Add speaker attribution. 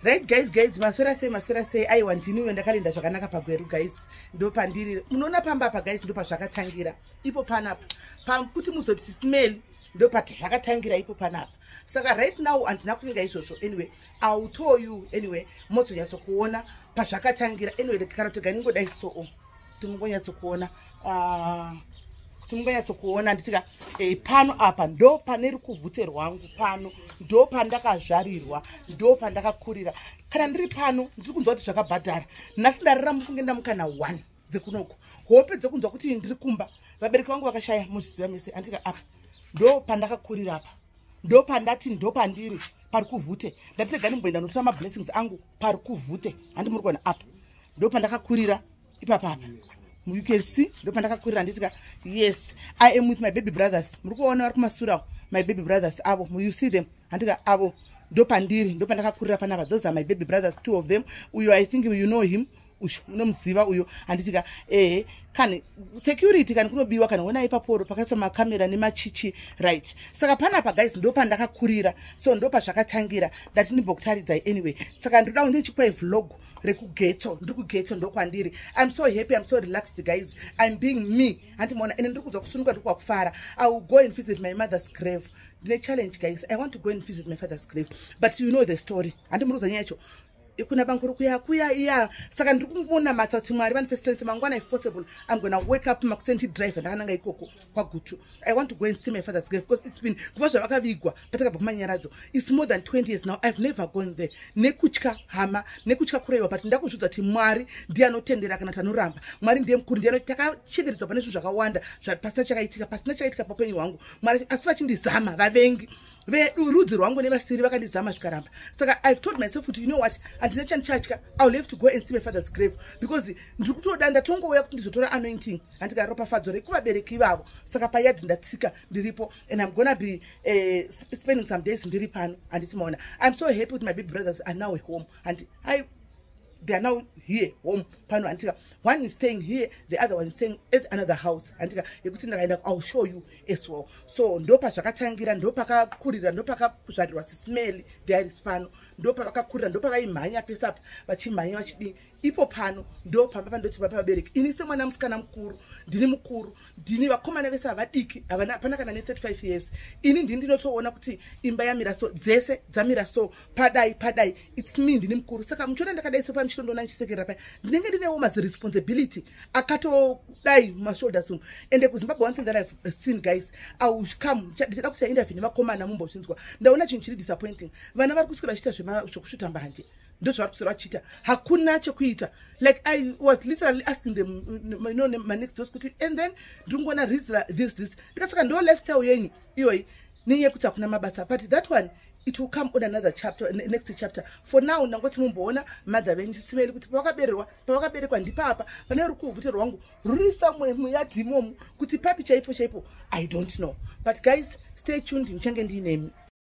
Speaker 1: right guys guys maswera sei maswera sei aiwa ndiniwe ndakalinda zvakanaka pagweru guys ndopandiri munoona pamba apa guys ndopazvakatangira ipo panapa pakuti muzoti sismell ndopati zvakatangira ipo panapa saka right now handina kuvinga izvozvo anyway iwill tell you anyway mozonyatsokuona pazvakatangira anyway kana tega ningodai soo kuti mungonyatsokuona ah, kuti mungonyatsokuona nditika e, pano apa ndo pane rukuvhute rwangu pano ndo pandakazvarirwa ndo pandakakurira kana ndiri pano ndiri kunzwa kuti zvakabhadhara nhasi ndarira mufunge ndamukana one dzekunoko hope dzekunzwa kuti ndiri kumba vabereki vangu vakashaya muzviziva mese andika apa ndo pandakakurira apa ndo pandati ndo pandiri pari kuvhute ndatega ndimboenda notora mablessings angu pari kuvhute handi muri kuona apa ndo pandakakurira ipapa apa you can see ndopandakakurira nditika yes i am with my baby brothers muri kuvaona vari kumasurawo my baby brothers avo you see them handika avo ndopandiri ndopandakakurira panapa those are my baby brothers two of them uyo i think you know him uyu unomuziva uyo handitika ehe kani security kani kunobiwa kana wona ipaporo pakaiswa makamera nemachichi right saka panapa guys ndopandakakurira so ndopazvakatangira ndati ndimbokutariridzai anyway saka ndoda kundichikwai vlogo rekugetso ndiri kugetso ndokwandiri im so happy im so relaxed guys im being me hanti maona ende ndiri kudzwa kusunuka ndiri kwakufara i will go and visit my mother's grave ndine challenge guys i want to go and visit my father's grave but you know the story handi muruza nyaya yacho kuna banguru kuya kuya iya saka ndiri kumbonamata kuti mwari vandipe strength mangwana if possible i'm gona wake up makuseni tidrive ndakananga ikoko kwagutu i want to go and see my father's grave because it's been kuva zvavakavigwa patakabva kumanyaradzo its more than 20 years now ive never gone there nekutya hama nekutya kuraiwa but ndakuzviudza kuti mwari ndiye anotendera kana tanoramba mwari ndiye mukuru ndiye takachengetedzwa pane zvinhu zvakawanda pasina chakaitika pasina chakaitika paupenyu hwangu mwari asi vachindizama vavengi vedu rudzi rwangu nevasiri vakandizama zvikaramba saka ive told myself kuti you know what handina chandichatya i will have to go and see my father's grave because ndiri kutoda ndatongouya kuti ndizotora anointing handika ropafadzo rekuvabereki ivavo saka payadi ndatsika ndiripo and im gonna be uh, spending some days ndiri pano handiti maona iam so happy kuti my baby brothers are now home handi i they are now here home pano handika one is staying here the other one is staying at another house handika yekuti ndakaenda iwill show you as well so ndopazvakatangira ndopakakurira ndopakazvarirwa sismeli diaris pano ndopavakakurira ndopavaimhanya pese apa vachimhanya vachidii ipo pano ndo pamba pandotsiva pavabereki ini semwana musikana mukuru ndini mukuru ndini vakomana vese havadiki havana hapana kana ne35 years ini ndini ndinotoona kuti imba yamira so dzese dzamira so padai padai its me ndini mukuru saka muchiona ndakadai so pamichitondoona ndichisekerera paya ndinenge ndinewo maziresponsibility akatodai mashoulders umu ende kuzimbabwe one thing that i've seen guys aucome ndichada kuti aindavi nevakomana mumbozvinzwa ndaona chinhu chiri disappointing vana vari kuswira vachiita zvekusvuta mbanje ndozvavari kuswira vachiita hakuna chekuita like i was literally asking them you know, my next dos kuti and then ndiri kungoona rizla this this ndikasaka ndo lifestyle yenyu iyoyi nenyaya yekuti hakuna mabasa but that one it will come on another chapter next chapter for now ndangoti mumboona mother venyu chisimeli kuti pavakabererwa pavakaberekwa ndipapa pane rukuvhute rwangu ruri somewhere muyadhi imomu kuti papi chaipo chaipo i don't know but guys stay tuned ndichange ndiinemi